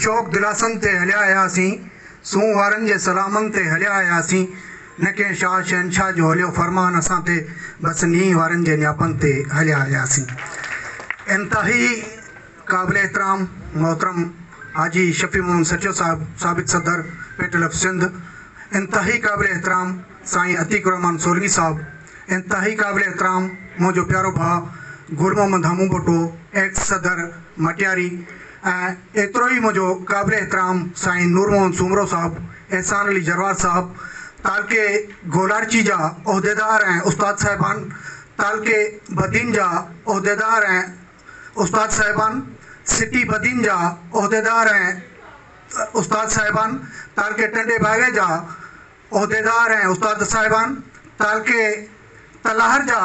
شوق دلاسن تي هليا آياسين، سونهن وارن جي سلامن تي هليا آياسين، نه ڪنهن شاهه شهنشاهه جو هليو فرمان اسان تي، بس نينهن وارن جي نياپن تي هليا آياسين. انتهائي قابل احترام محترم حاجي شفيع محمد سچو صاحب سابق صدر پيٽل آف سنڌ، انتهائي قابل احترام سائين عتيق الرحمان سولنگي صاحب، انتهائي قابل احترام منهنجو پيارو ڀاء گل محمد همون ڀٽو ايڪس صدر مٽياري، ۽ ايترو ئي منهنجو قابل احترام سائين نور محمد سومرو صاحب، احسان علي جروار صاحب، تعلقي گولاڙچي جا عهديدار ۽ استاد صاحبان، تعلقي بدين جا عهديدار ۽ استاد صاحبان، سٽي بدين جا عهديدار ۽ استاد صاحبان، تعلقي ٽنڊي باوي جا عهديدار ۽ استاد صاحبان، تعلقي تلهار جا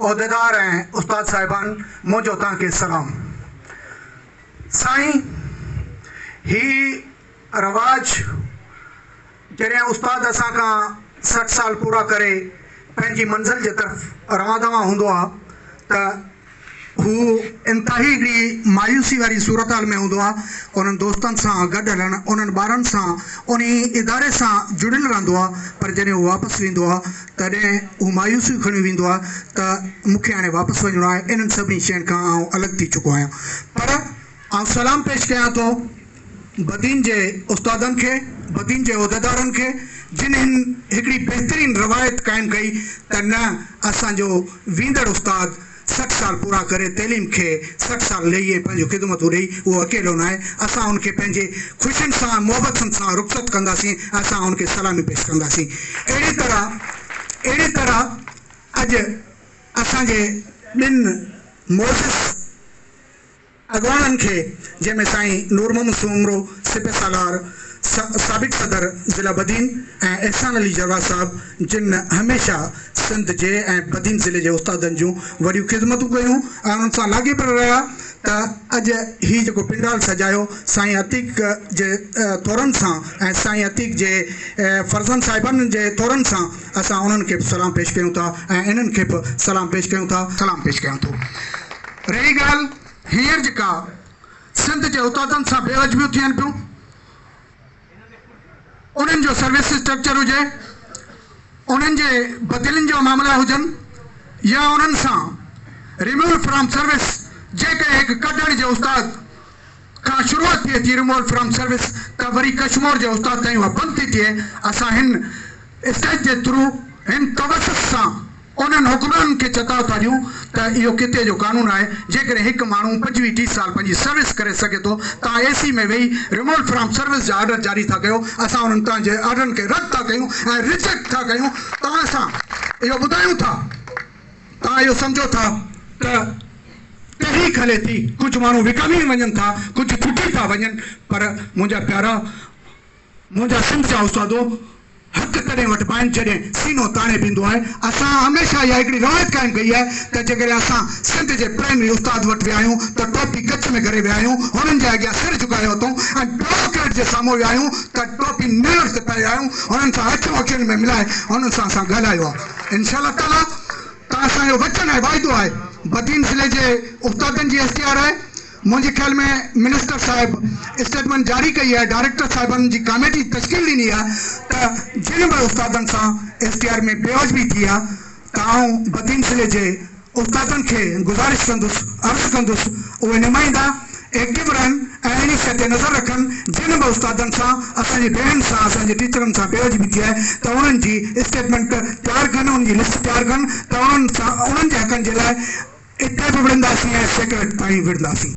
عهديدار ۽ استاد صاحبان منهنجو توهان کي سلام. سائين هي رواج جڏهن استاد اسان کان سٺ سال پورا ڪري پنهنجي منزل جي طرف روان دوان هوندو آ ته هو انتهائي هڪڙي مايوسي واري صورتحال ۾ هوندو آهي. انهن دوستن سان گڏ هلڻ، انهن ٻارن سان، انهي اداري سان جڙيل رهندو آهي، پر جڏهن هو واپس ويندو آهي، تڏهن هو مايوسيون کڻي ويندو آهي ته مون کي هاڻي واپس وڃڻو آهي، انهن سڀني شين کان آئون الڳ ٿي چڪو آهيان. پر. آئون سلام پيش ڪيان ٿو بدين جي استادن کي، بدين جي عهديدارن کي جن هن هڪڙي بهترين روايت قائم ڪئي ته نه اسان جو ويندڙ استاد سٺ سال پورا ڪري تعليم کي سٺ سال لهي ۽ پنهنجون خدمتون ڏئي اهو اڪيلو ناهي اسان ان کي پنهنجي خوشين سان ۽ محبتن سان رخصت ڪنداسين ۽ اسان ان کي سلامي پيش ڪنداسين اهڙي طرح اهڙي طرح اڄ اسان جي ٻن معزز اڳواڻن کي جنهن ۾ سائين نور محمد سومرو سپه سالار، سابق صدر ضلع بدين ۽ احسان علي جرواھ صاحب جن هميشه سنڌ جي ۽ بدين ضلعي جي استادن جون وڏيون خدمتون ڪيون ۽ انهن سان لاڳيپيل رهيا ته اڄ هي جيڪو پنڊال سجايو سائين عتيق جي ٿورن سان ۽ سائين عتيق جي فرزند صاحبانن جي ٿورن سان اسان انهن کي به سلام پيش ڪيون ٿا ۽ انهن کي به سلام پيش ڪيون ٿا سلام پيش ڪيون ٿو. رهي ڳالهه هينئر جيڪا سنڌ جي اتادن سان بي عجبيون ٿين پيون، انهن جو سروس اسٽرڪچر هجي، انهن جي بدلين جا معاملا هجن يا انهن سان Removed From Service جيڪي هڪ ڪڍڻ جي استاد کان شروعات ٿئي ٿي رمول فرام سروس ته وري ڪشمور جي استاد تائين اها بند ٿي ٿئي اسان هن اسٽيج جي ٿرو هن توسط سان انهن حڪمرانن کي چتاء ٿا ڏيون ته اهو ڪتي جو قانون آهي جيڪڏهن هڪ ماڻهو پنجويهه ٽيهه سال پنهنجي سروس ڪري سگهي ٿو تان اي سي ۾ ويهي رمول فرام سروس جا آرڊر جاري ٿا ڪيو اسان انهن تان جي آرڊرن کي رد ٿا ڪيون ۽ ريجيڪٽ ٿا ڪيون توهان سان اهو ٻڌايون ٿا توهان اهو سمجهو ٿا ته تحريڪ هلي ٿي، ڪجهه ماڻهو وڪامي وڃن ٿا، ڪجهه ٽٽي ٿا وڃن، پر منهنجا پيارا، منهنجا سنڌ جا استادو، حق تڏهن وٺبا آهن جڏهن سينو تاڻي بيهندو آهي. اسان هميشه اها هڪڙي روايت قائم ڪئي آهي ته جيڪڏهن اسان سنڌ جي پرائمري استاد وٽ ويا آهيون ته ٽوپي ڪڇ ۾ ڪري ويا آهيون، هنن جي اڳيان سر جهڪايو اٿئون ۽ بيوروڪريٽ جي سامهون ويا آهيون ته ٽوپي نيڻ تي پائي آهيون، هنن سان اکيون اکين ۾ ملائي هنن سان اسان ڳالهايو آهي. انشاء الله تعاليٰ تان اسان جو وچن آهي واعدو آهي بدين ضلعي جي استادن جي ايس ڊي آر آهي منهنجي خيال ۾ منسٽر صاحب اسٽيٽمينٽ جاري ڪئي آهي ڊائريڪٽر صاحبن جي ڪاميٽي تشڪيل ڏني آهي ته جن به استادن سان ايس ڊي آر ۾ بي واجبي ٿي آهي ته آئون بدين ضلعي جي استادن کي گذارش ڪندس عرض ڪندس اهي نمائندا ايڪٽو رهن ۽ اهڙي شيء تي نظر رکن جن به استادن سان اسان جي ڀيڻن سان اسان جي ٽيچرن سان بي ادبي ٿي آهي ته انهن جي اسٽيٽمينٽ تيار ڪن انهن جي لسٽ تيار ڪن ته انهن سان انهن جي حقن جي لاء اتي به وڙهنداسين ۽ سيڪريٽ تائين وڙهنداسين.